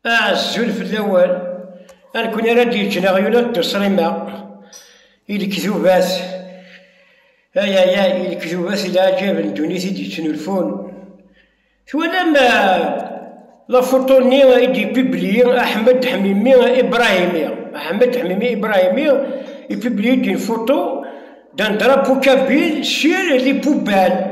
Azul fell-awen, a nekni ara d-yeǧǧen aɣyul ad d-uṣrima, i lekdubat, ay ay ay, i lekdubat i leɛǧab n ddunit i d-yettnulfun. Twalam lafuṭu-nni i d-ipibliye Aḥmed Ḥmimi Ibrahimi, Aḥmed Ḥmimi Ibrahimi, ipibliye-d une photo d'un drapeau kabyle sur les poubelles.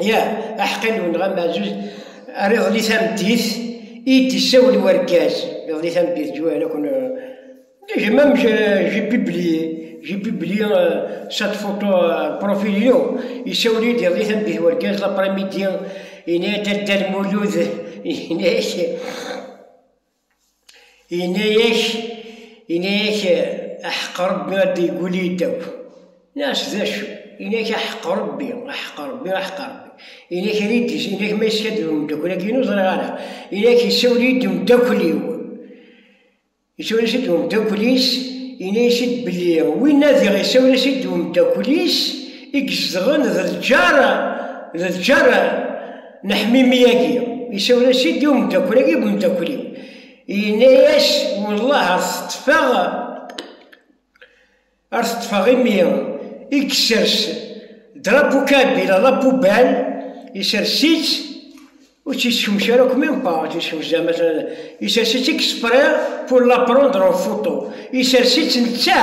Ya, aḥeqqi nwen ɣam Ɛzuz, ar iḍelli tameddit i d-isawel wergaz, iḍelli tameddit ǧuhel akun j'ai même j'ai publié j'ai publié cette photo profil inu isawel-iyi-d iḍelli tameddit wergaz l'après-midi yenna-yi-d a Dda Lmulud yenna-ak Yenna-yak, yenna-yak aḥeq Rebbi ad d-yeggul yiddaw. Nas d acu? Yenna-yak aḥeq Rebbi, aḥeq Rebbi, aḥeq Rebbi. Yenna-yak ad iyi-d-is, yenna-yak ma yeskaddeb umeddakel-agi-inu ur ẓriɣ ara. Yenna-yak isawel-iyi-d umeddakel-iw. Isawel-as-id umeddakel-is, yenna-as-id belli winna diɣ isawel-as-id umeddakel-is i izedɣen d lǧar, d lǧar. neḥmimi-agi isawel-as-id i umeddakel-agi deg umeddakel-iw yenna-yas wellah ar teṭṭfeɣ ar teṭṭfeɣ imi i yessers drapu kabil ala pubal yessers-itt ur tt-yessemc ara akk même pas tt-yessemc zama yessers-itt i yespriɣ pour la prendre en photo yessers-itt netta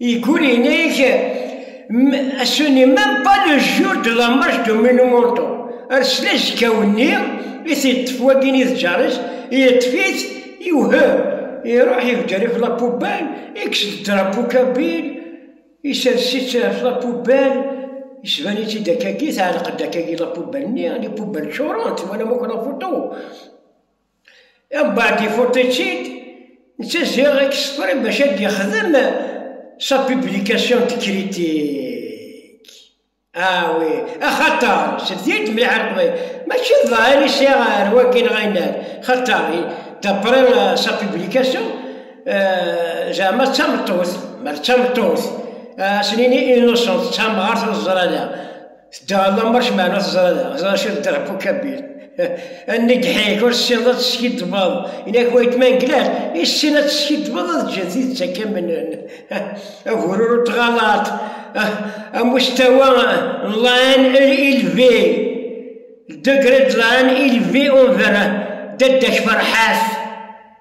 Igul yenna-ak, a son imam, pas le jour de la marche de Monumental. Ar sla zekaw-nni, i t-yeṭṭef wagin i tǧaṛ-is, yeṭṭef-it, iwhem, iṛuḥ ibder ɣef la poubelle, ikkes-d drapeau kabyle, isers-itt ɣef la poubelle, isban-itt-id akkagi, teɛleq-d akkagi la poubelle-nni, les poubelles ččurent, twalam akk la photo. Abadi Fotecid d taziɣ exprès bac ad yexdem sa publication de critique. Ah oui, axaṭer tebdi-d mliḥ ar Leqbayel, mačči d ḍahir i sɛiɣ ar wagi neɣ ayennat, xaṭer d'après sa publication zeɛma d tameṭṭut, mer d tameṭṭut, ad as-nini innocente, d tamɣart ur teẓri ara. Tedda ɣer lamar kemm ɛna teẓra da, ẓra cir dder ɣef ukabil. Anni gḥik, ur tessineḍ ad teskiddbeḍ. Ini-ak wayetma n glas, issin ad teskiddbeḍ ad ǧǧen tidet akka mnen. Agurur ur tɣalaṭ. Amustawa n lan ilvi. Degré de lan ilvi on verra. Dadda-k ferḥat.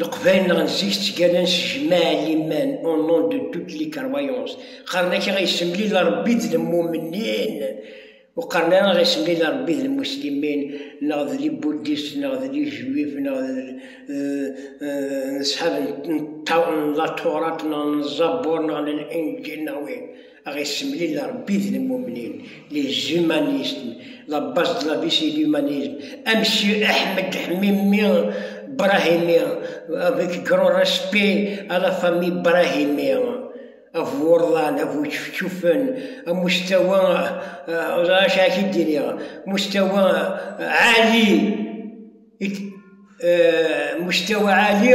Leqbayel neɣ n zik ttgalan s jmaɛ liman, au nom de toutes les croyances. Qqaren akka i yessemlil Rebbi d lmumnin, ur qqaren ara i yessemlil Rebbi d lmuslimin, neɣ d libuddist, neɣ d lijuif, neɣ d n ṣṣhab n Latturat, neɣ n Zzabur, neɣ n Linǧil, neɣ win. A ɣ-issemlil Ṛebbi d lmumnin, les humanismes, la base de la vie c'est l'humanisme, a Monsieur Ahmed Hmimi Brahimi, avec grand respect à la famille Brahimi, a bu urḍan, a bu čefčufen, a mustawa, ur ẓriɣ acu ara k-id-iniɣ, mustawa ɛali, mustawa ɛali.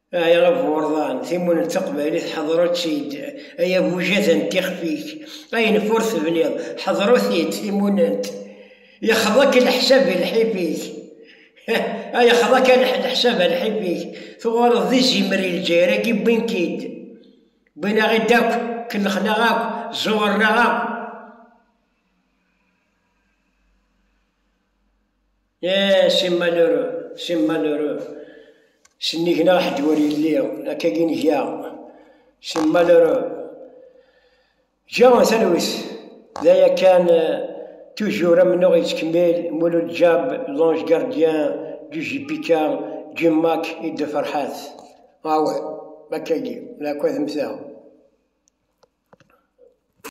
Ay aburḍan, timunent taqbaylit ḥeḍru-tt-id, ay abujad n tixef-ik, ayen ur tebniḍ ḥeḍru-t-id, timunent yexḍa-k leḥsab i lḥif-ik, ay yexḍa-k leḥsab a lḥif-ik, tuɣaleḍ d izimer i lǧayr-agi wwin-k-id, wwin-aɣ-id akk, kellxen-aɣ akk, ẓuɣren-aɣ akk. Eh, c'est malheureux, c'est malheureux. Sennig neɣ ḥedd ur yelli, akka i nga. C'est malheureux. Ǧǧan talwit, d aya kan toujours amennuɣ yettkemmil Mulud Djab, l'ange gardien du JPK, Jim Mack et de Farhat. Ah ouais, akka-agi, la akk ad mmteɣ.